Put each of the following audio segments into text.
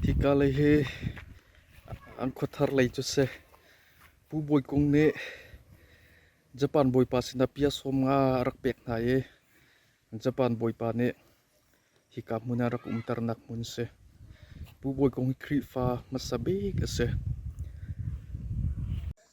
Hika lei hi an khuathar lei cu si. Pu Bawi Kung nih Japan Bawipa sinah bia sawm nga a rak pek hna i Japan Bawipa nih hika hmun ah rak umternak hmun a si. Pu Bawi Kung hi Khrihfa hmasa bik a si.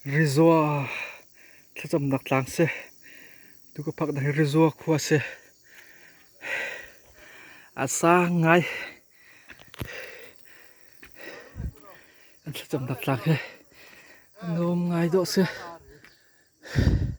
Rizua thlacamnak tlang si. Tu ka phak na hi Rizua khua si. A sang ngai. An thlacamnak tlang hi a nuam ngai dawh si.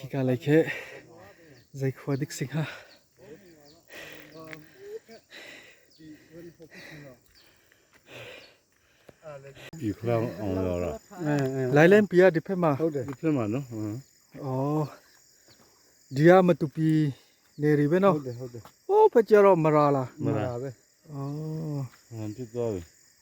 Hika lei khi zeikhua dik si hnga? Lailen pi ah diphe ma? Oh, dia matupi neri be no? Oh, patia ro mara la. Mara be. Oh.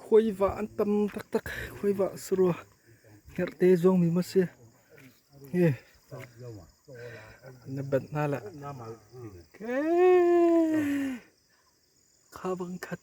Khuaivah an tam taktak. Khuaivah a si rua. Herhte zuangmi maw si. Hi. Na banh hna lah. Kha bang khat.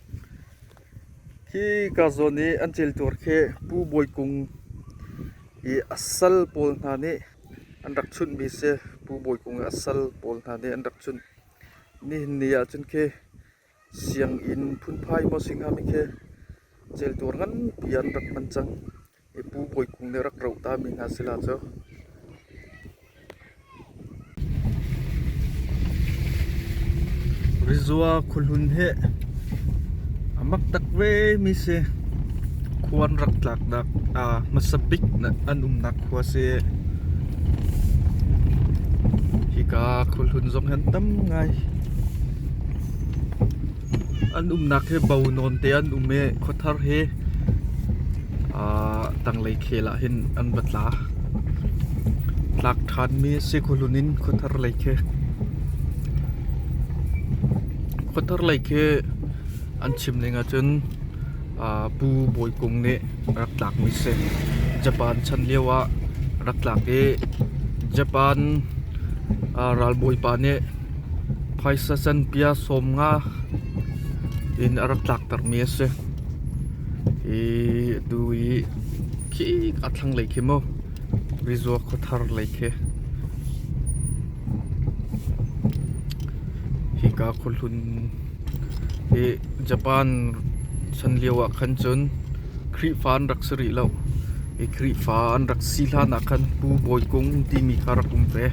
Hi karzawn i an cel tuar khi Pu Bawi Kung i a sal pawl hna nih an rak chunhmi a si. Pu Bawi Kung i a sal pawl hna nih an rak chunh. Nihin ni ahcun khi sianginn phunphai maw si hnga mi khi cel tuar nganpi an rak hman cang. I pu Kawi Kung nih rak roh ta mi hna si la cu. Rizua khuahlun hi a mak tak ve mi si. Khua an rak tlak nak a hmasa bik an umnak khua si. Hi ka khuahlun zong hi an tam ngai. An umnak hi bo nawnte an um i khuathar hi aa tanglei khel ahhin an va tla. Tlak ṭhanmi a si khuahlun in khuathar lei khi. Khuathar lei khi an chim ning ahcun aa Pu Bawi Kung nih rak tlakmi si. Japan chan lio ah rak tlak i Japan aa ralbawipa nih Phaisa canpia sawm nga in a rak tlaktermi a si. Hi atu i khik a thlanglei khi maw rizua khuathar lei khi. Hika khuahlun hi Japan chan lio ah khan cun Khrihfa an rak si rih lo. Hi Khrihfa an rak si hlanah khan Pu Bawi Kung timi kha rak um ve.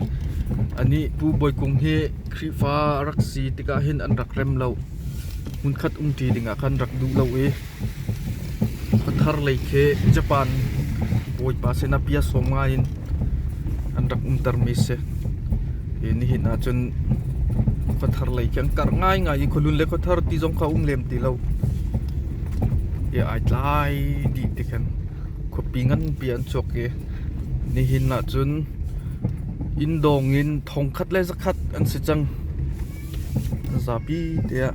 Anih Pu Bawi Kung hi Khrihfa a rak si tikah hin an rak rem lo. Hmunkhat umṭi dingah khan rak duh lo i khuathar lei khi Japan bawipa sinah bia sawm ngai in an rak umtermi a si. Hi nihin ah cun khuathar lei khi an karh ngaingai i khualun le khuathar ti zong kha a um lem ti lo. he ai tlai dih ti khin khuapi nganpi an chuak i nihin ahcun inn dawng in thongkhat le zakhat an si cang. Zapi te ah.